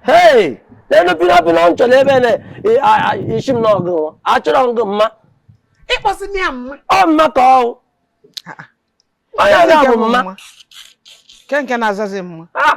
hei n'elu pina pina m chọrọ ebe na e, isi m n'ọgụ achọrọ ngụ mma ịkpọsị m ya mma ọ mma ka ọwụ ah, ah. onye ọga bụ mma nke nke na-azazi mma ah!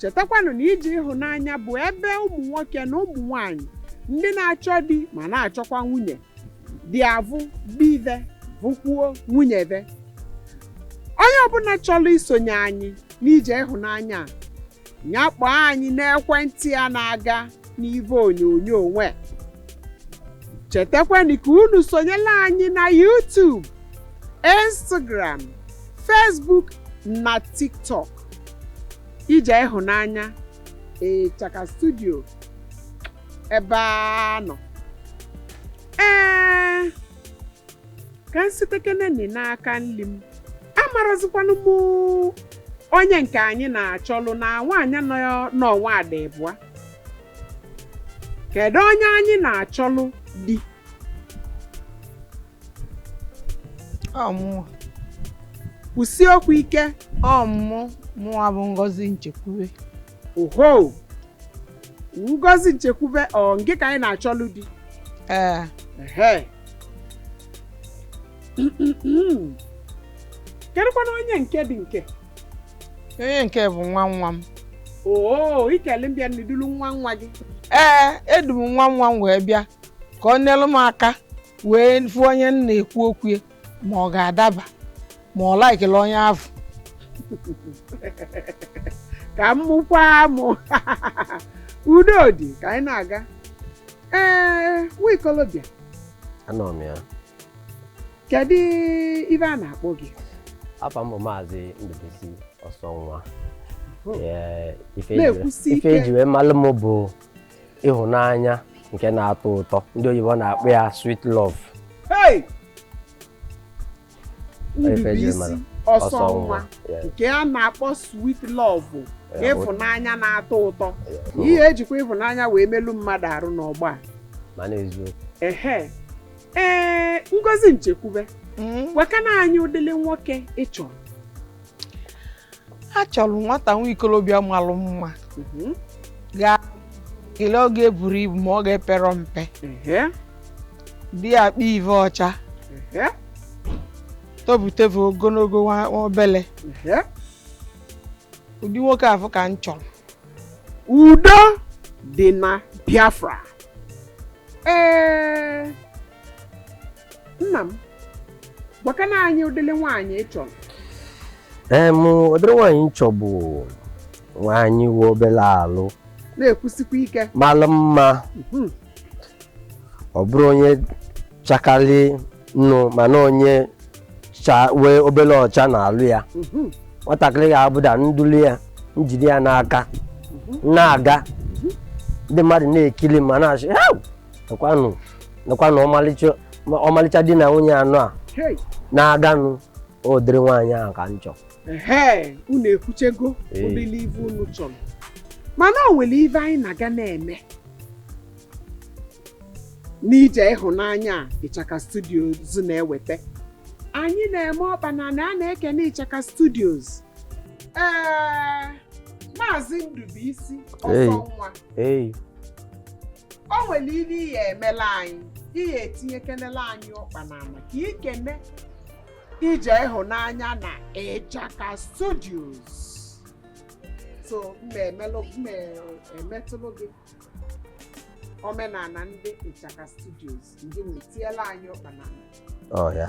chetakwanụ na ije ịhụnanya bụ ebe ụmụ nwoke na ụmụ nwanyị ndị na-achọ di ma na-achọkwa nwunye ji avụ di ve vụkwuo nwunye ve onye ọbụla chọrọ isonye anyị n'ije ịhụnanya nya kpọọ anyị n'ekwentị a na-aga n'ive onyonyo nwe chetakwanụ ka unu sonyelu anyị na YouTube Instagram Facebook na TikTok Ije ịhụnanya ịchaka studio ebe a nọ ee ka m sitekeneni n'aka nli m amarazikwanụ m onye nke anyị na-achọlụ na nwaanyị nọ n'ọnwa dị ịbụa kedu onye anyị na-achọlụ di ọ mụwa kwusi okwu ike ọ mụwa bụ ngozi nchekwube oho ngozi nchekwube ọ ngị ka anyị na-achọlụ di ee ehe kedụkwanụ onye nke dị nke onye nke a bụ nwa nwa m oo i kele mbịa na i dulu nwa nwa gị ee edu m nwa nwa m wee bịa ka ọ nyelụ m aka wee fụ onye m na-ekwu okwu ya ma ọ ga-adaba ma ọ likela onye afụ ka m mụkwa amụ udo dị ka anyị na-aga ee nwa ikolobịa anọ m ya kedu ive a na-akpọ gị afa m bụ maazị ndụbisi ọsọ nwa Ee, ife eji- Na-ekwusi ife ike. eji wee malụ m bụ ịhụnanya nke na-atọ ụtọ ndị oyibo na-akpọ ya sweet love Hey! Ife eji Ndubisi mara. ọsọ Ọsọ nwa nwa. Yeah. nke a na-akpọ sweet love Yeah, ịfụnanya na-atọ ụtọ Yeah. ihe ejikwa ịfụnanya wee melu mmadụ arụ n'ọgba a. mana eziokwu ehe ee ngozi nchekwube gwakene anyị ụdịlị nwoke ị chọrọ achọlụ m nwata nwa ikolobịa malụ mma gaa kelee ọ ga-eburọ ibu ma ọ ga-eperọ mpe di ya kpa ive ọcha tobuteve ogologo nwa nwa obele ụdị nwoke afụ ka m chọlụ udo dị na biafra ee nna m gwakana anyị ụdịrị nwaanyị ị chọrọ em ụdịrị nwaanyị m chọ bụ nwaanyị nwe obele alụ na-ekwusikwa ike malụ mma Mhm. ọ bụrọ onye chakalị nnọọ mana onye nwe obele ọcha n'alụ ya Mhm. nwatakịrị ga-abụ na m dulu ya m jide ya n'aka na-aga ndị mmadụ na-ekili ma na-asị "Ew, nekwanụ ọmalịcha di na nwunye anọ a Hey, na-aganụ ụdịrị nwaanyị ahụ ka m chọ ehe, unu ekwuchego Ee. ụdịrị ive unu chọrọ mana o nwere ive anyị na-aga na-eme n'ije ịhụnanya a ịchaka studios na-eweta anyị na-eme ọkpa n'ana a na-ekene ịchaka studios ee maazị Ndubuisi Hey. ọsọ nwa ei o nwere ihe ị ya-emela anyị ị ya-etinyekenela anyị ọkpa n'ana ka i kene ije ịhụnanya na ịchaka studios so m me-emetụlụ gị omenana ndị ịchaka studios ndị nwe tinyela anyị ọkpa n'ana ọya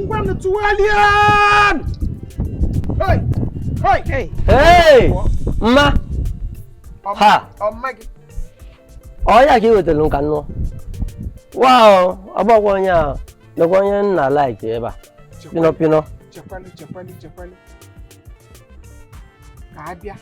ngwanụ tụgharịa mma ha ọ ya ka ị wetara nka nnụọ wa ọ bụkwa onye a nakwa onye nna laiki ebe a pinọ pinọ ka abịa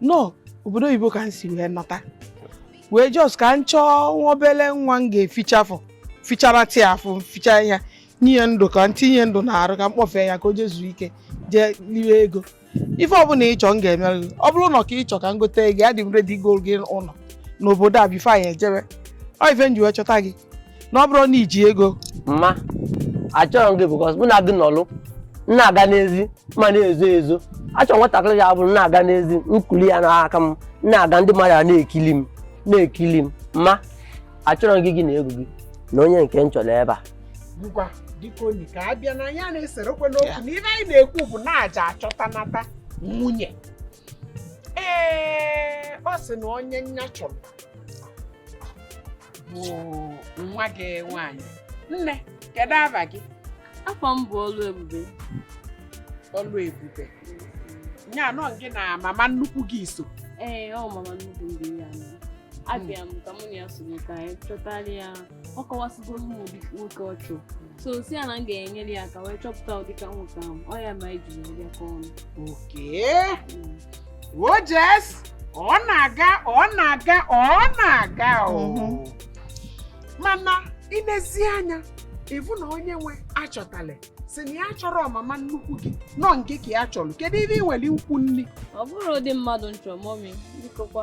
na obodo oyibo ka m si wee nata wee jos ka m chọọ nwa obele nwa m ga-efichafụ fichara atị afụ ficha ya nye ndụ ka m tinye ndụ na arụ ka m kpọfee ya ka o jee zuo ike jee liwe ego ife ọbụla ị chọ m ga-emere gị ọ bụrụ na ọ car ị chọ ka m gote gị adị m redi golụ gị ụlọ n'obodo a bifo anyị ejebe ọ ife m ji wee chọta gị na ọ bụrụ na i ji ego mma achọrọ m gị bikọs mụ na gị nọlụ m na-aga n'ezi m a na-ezo ezo achọrọ nwatakịrị ya bụrụ m na-aga n'ezi m kulu ya n'aka m m na-aga ndị mmadụ a na-ekili m mma achọrọ m gị gị na ego gị na onye nke m chọrọ ebe a ngwa dịka onye nke a bịa na ya esorọkwa n'okwu na ihe anyị na-ekwu bụ na a ja-achọta nata nwunye ee ọ sị na onye nya chọrọ bụ nwa gị nwaanyị nne kedu ava gị afa m bụ Ọlụebube Ọlụebube nya na ọ gị na mama nnukwu gị so ee ọ mama nnukwu m dị ya nọ abịa m ka mụ na ya soro ka anyị chọtara ya ọ kọwasịgoro m ụdị nwoke ọ chọrọ so sị ya na m ga-enyere ya aka wee chọpụta ụdịka nwoke ahụ ọ ya ma iji wee bịakọ ọnụ okee ojes ọ na-aga ọ na-aga ọ na-aga o mana inezi anya ịfụ na onye nwe achọtala sị na ya chọrọ ọmama nnukwu gị nọ nke ka ya chọrọ kedu ibe ị nwere ukwu nri ọ bụrụ ụdị mmadụ m chọ mọmi bikokwa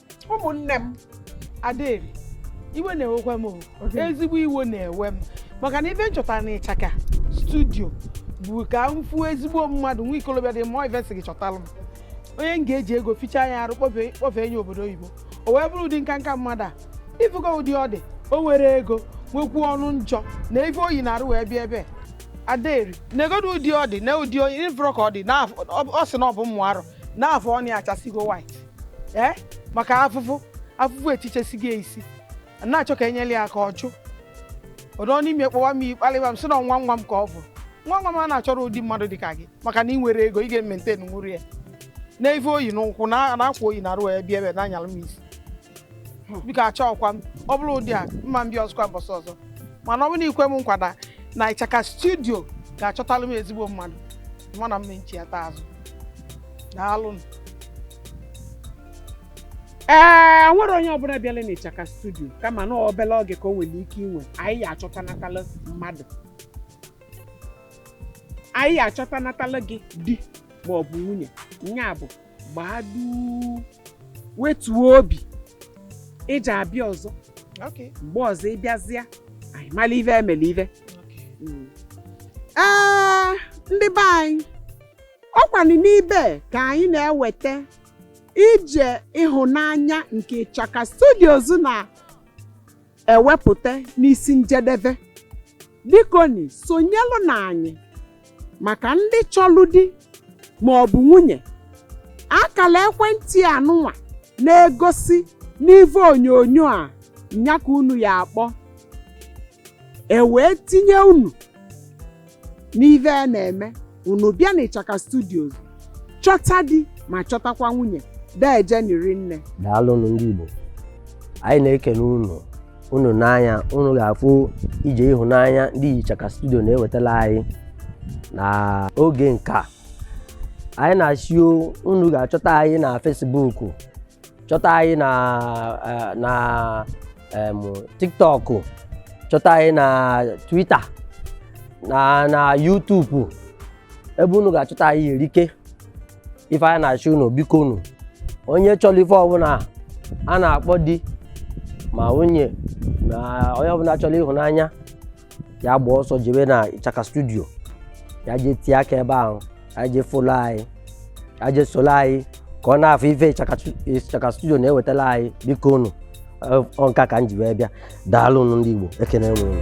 ụmụnne m Adaeri iwe na-ewekwa m ezigbo iwe na-ewe m maka na ife m chọtara na ịchaka studio bụ ka m fụ ezigbo mmadụ nwa ikolobịa dị mma ive sị gị chọtara m onye m ga-eji ego fichaa ya arụ kpọfee nya obodo oyibo o wee bụrụ ụdị nka nka mmadụ a ị fụgo ụdị ọ dị o nwere ego nwekwuo ọnụ njọ na ife o yi n'arụ wee bịa ebe Adaeri negodo ụdị ọ dị na ụdị onye ị fụrụ ka ọ dị ọ sị na ọ bụ mụ arụ na afụ ọnụ achasigo white ee eh? maka afụfụ afụfụ etichesigo isi na-achọ ka e nyere ya aka ọjụ ọdọ n'ime kpọwa m ị kpalịwa m sị na nwa nwa m ka ọ bụ nwa nwa m a na-achọrọ ụdị mmadụ dị ka gị maka na ị nwere ego ị ga-emaintain nwuru ya na ife o yi n'ụkwụ na akwa o yi n'arụ ya bịa ebe a na-anyalụ m isi biko achọọkwa m ọ bụrụ ụdị a m ma bịa ọzọkwa mbọsị ọzọ mana ọ bụrụ na i kwe m nkwa na na ịchaka studio ga-achọtalụ m ezigbo mmadụ mana m chiyata azụ daalụ nụ. ee nwere onye ọbụna bịala na ịchaka studio kama na obele oge ka o nwere ike iwe anyị ya-achọtanatala mmadụ anyị ya-achọtanatala gị di ma ọ bụ nwunye nya bụ gbaa duu wetuo obi ị ja-abịa ọzọ Okay. mgbe ọzọ ị bịazịa anyị mala ive e mela ive Okay. Mm. ee ndị be anyị ọkwanụ n'ibe a ka anyị na-eweta ije ịhụnanya nke ịchaka studios na ewepụta n'isi njedebe bikoni sonyelụ na anyị maka ndị chọlụ di ma ọ bụ nwunye akala ekwentị anụnwa na-egosi n'ive onyonyo a nya ka unu ya-akpọ e wee tinye unu n'ive a na-eme unu bịa na ịchaka studios chọta di ma chọtakwa nwunye dejeni rinne daalụnụ ndị Igbo anyị na-ekene unu unu nee anya unu ga-afụ ije ịhụnanya ndị ịchaka studio na-ewetala anyị na oge nka anyị na-asị o, unu ga-achọta anyị na Facebook chọta anyị na eh, na em, tiktok chọta anyị na twitter na na youtube ebe unu ga-achọta anyị erika ife anyị na-asị unu bikonụ onye chọlụ ife ọbụna a na-akpọ di ma nwunye ma onye ọbụna chọlụ ịhụnanya ya gbaa ọsọ jebe na ịchaka studio ya jee tie aka ebe ahụ ya jee folo anyị ya jee solo anyị ka ọ na-afụ ife ịchaka stu- ịchaka studio na-ewetala anyị biko unu Ọ- ọ nka ka m ji wee bịa daalụ unu ndị igbo ekene m unu